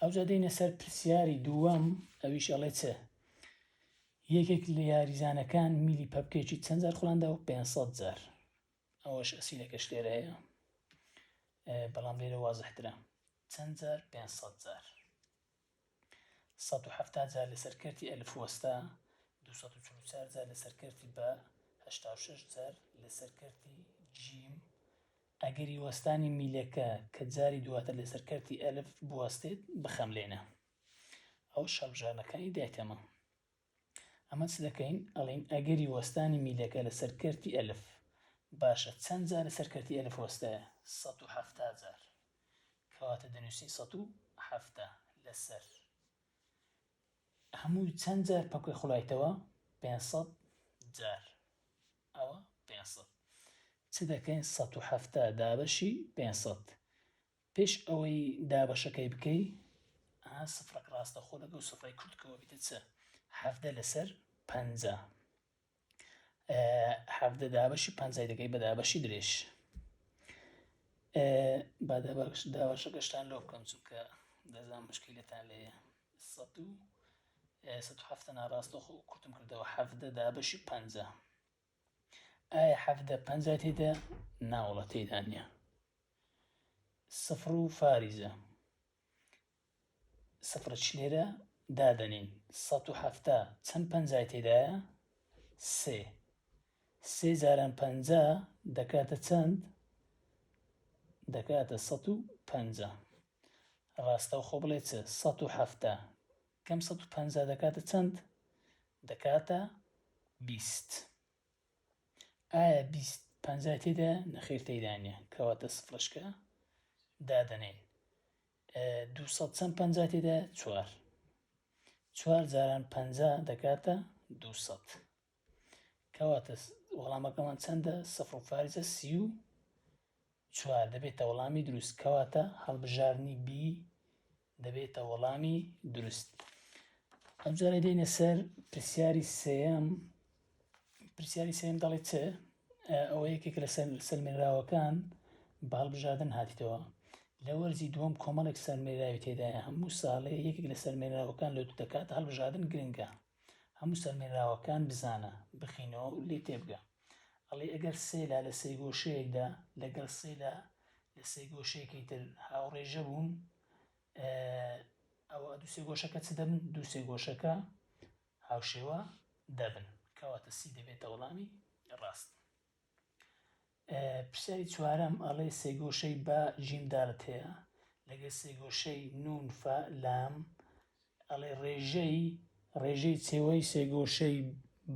ئەوجا دێینە سەر پرسیاری دووەم ئەویش ئەڵێ چ یەکێک لە یاریزانەکان میلی پەپکێکی چەند جار خولاندە و 500 جار ئەوەش ئەسیلەکەش لێرە هەیە بەڵام لێرە وازحترە چەند جار 500 جار 1970 جار لەسەر کەرتی ئەلف وەستا 244 جار لەسەر کەرتی بە 86 جار لەسەر کەرتی جیم ئەگەری وەستانی میلەکە کە جاری دواتر لەسەر کەرتی ئەلف بوەستێت بخەملێنە ئەو شەڕبژارنەکانی دایتەمە ئەمە چ دەکەین ئەڵین ئەگەری وەستانی میلەکە لەسەر کەرتی ئەلف باشە چەند جار لەسەر کەرتی ئەلف وەستایە سەد و حەفتا جار کەواتە دەنووسین سەد و حەفتا لەسەر هەمووی چەند جار پەکوێ خوڵایتەوە پێنج سەد جار ئەوە پێنج سەد چ دەکەین سەد و حەفتا دابەشی پێنج سەد پێش ئەوەی دابەشەکەی بکەی ئا سفرەک ڕاستەخۆ لەگەڵ سفرەی کورتکەوە بیتە چ حەفدە لەسەر پەنجا حەڤدە دابەشی پەنجای دەکەی بە دابەشی درێژ با دابەش داوەشەکەشتان لۆ بکەم چونکە دەزان مشکیلتان لێ سەد و سەد هەفتە ناڕاستە خۆ کورتم کردەوە حەفدە دابەشی پەنجە ئایا حەفدە پەنجا تێدا ناوڵە تێدا نیە سفر و فاریزە سفر چ لێرە دادەنێین؟ سەد و حەفتا چەند پەنجای تێدایە؟ سێ. سێ جاران پەنجا دەکاتە چەند؟ دەکاتە سەد و پەنجا. ڕاستەوخۆ بڵێ چ؟ سەد و حەفتا. کەم سەد و پەنجا دەکاتە چەند؟ دەکاتە بیست. ئایا بیست پەنجای تێدا نەخێر تێدا نیە کەواتە سفرشکە دادەنێن دوو سەد چەند پەنجا تێدایە؟ چوار. چوار جاران پەنجا دەکاتە دوو سەد. کەواتە وەڵامەکەمان چەندە سەفر و فارزە سی و چوار دەبێتە وەڵامی دروست کەواتە هەڵبژارنی بی دەبێتە وەڵامی دروست ئەمجارە دێنە سەر پرسیاری سێم پرسیاری سێم دەڵێت چ ئەوە یەکێکە لە سەلمێنراوەکان بە هەڵبژاردن هاتیتەوە لە وەرزی دووەم کۆمەڵێک سەلمێنراوی تێدایە هەموو ساڵێ یەکێک لە سەلمێنراوەکان لۆ دەکاتە هەڵبژاردن گرنگە هەموو سەلمێنراوەکان بزانە بخینەوە و لێ تێبگە ئەڵێ ئەگەر سێلا لە سێ گۆشەیەکدا لەگەڵ سێلا لە سێ گۆشەیەکی تر هاوڕێژە بوون ئەوە دووسێ گۆشەکە چ دەبن دووسێ گۆشەکە هاوشێوە دەبن. کەواتە سی دەبێتە وەڵامی ڕاست. ئە پرسیاری چوارەم ئەڵێ سێگۆشەی با جیم دالت هەیە لەگەر سێگۆشەی نون فا لام ئەڵێ ڕێژەی ڕێژەی چێوەی سێگۆشەی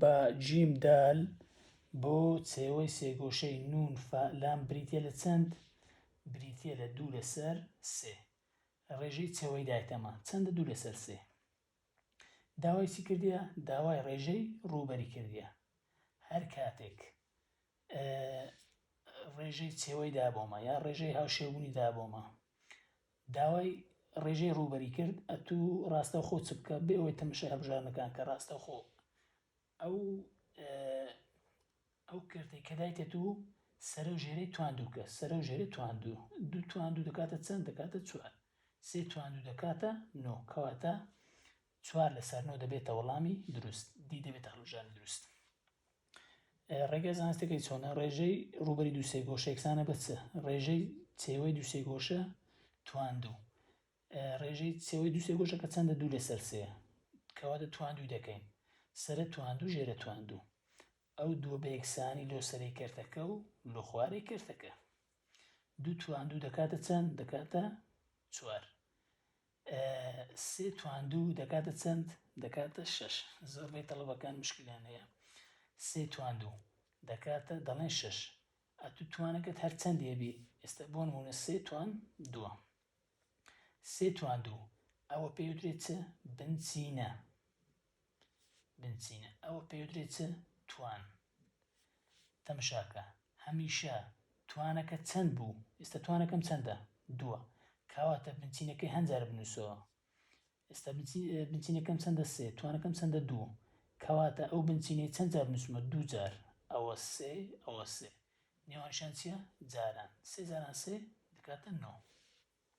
با جیم دال بۆ چێوەی سێگۆشەی نون فا لام بریتە لە چەند بریتە لە دوو لەسەر سێ ڕێژەی چێوەی دایتەمە چەندە دوو لەسەر سێ داوای چی کردیە داوای ڕێژەی ڕووبەری کردیە هەر کاتێک ڕێژەی چێوەی دابۆمە یا ڕێژەی هاوشێبوونی دابۆمە داوای ڕێژەی ڕووبەری کرد ئەتوو ڕاستەوخۆ چ بکە بێەوەی تەمەشای هەبژارنەکان کە ڕاستەوخۆ ئەو ئەو کەرتەی کە دایتە دوو سەرە و ژێرەی تواندووکە سەرە و ژێرەی تواندوو دوو تواندوو دەکاتە چەند دەکاتە چوار سێ تواندوو دەکاتە نۆ کەواتە چوار لەسەر نۆ دەبێتە وەڵامی دروست دی دەبێتە هەڵبژاردنی دروست ڕێگە زانستەکەی چۆنە ڕێژەی ڕوبەری دووسێ گۆشە یەکسانە بە چ ڕێژەی چێوەی دووسێ گۆشە تواندوو ڕێژەی سێوەی دوو سێگۆشەکە چەندە دوو لەسەر سێ کەواتە تواندوی دەکەین سەرە تواندو ژێرە تواندو ئەو دووە بە یەکسانی لۆ سەرەی کەرتەکە و لۆ خوارەی کەرتەکە دوو تواندو دەکاتە چەند دەکاتە چوار سێ تواندو دەکاتە چەند دەکاتە شش زۆربەی تەڵەبەکان مشکلیان هەیە سێ تواندو دەکاتە دەڵێن شش ئەتو توانەکەت هەرچەندێبی ئێستا بۆن مونە سێ توان دووە سێ تواندوو، ئەوە پێیوترێ چ؟ بنچینە بنچینە، ئەوە پێیوترێ چ؟ توان تەمشاکە، هەمیشە توانەکە چەند بوو؟ ئێستا توانەکەم چەندە؟ دووە، کاواتە بنچینەکەی هەند جار بنووسەوە. ئێستا بنچینەکەم چەندە؟ سێ، توانەکەم چەندە؟ دوو، کەواتە ئەو بنچینەی چەند جار بنووسمە؟ دوو جار، ئەوە سێ، ئەوە سێ، نێوانیشیان چییە؟ جاران، سێ جاران سێ دەکاتە نۆ.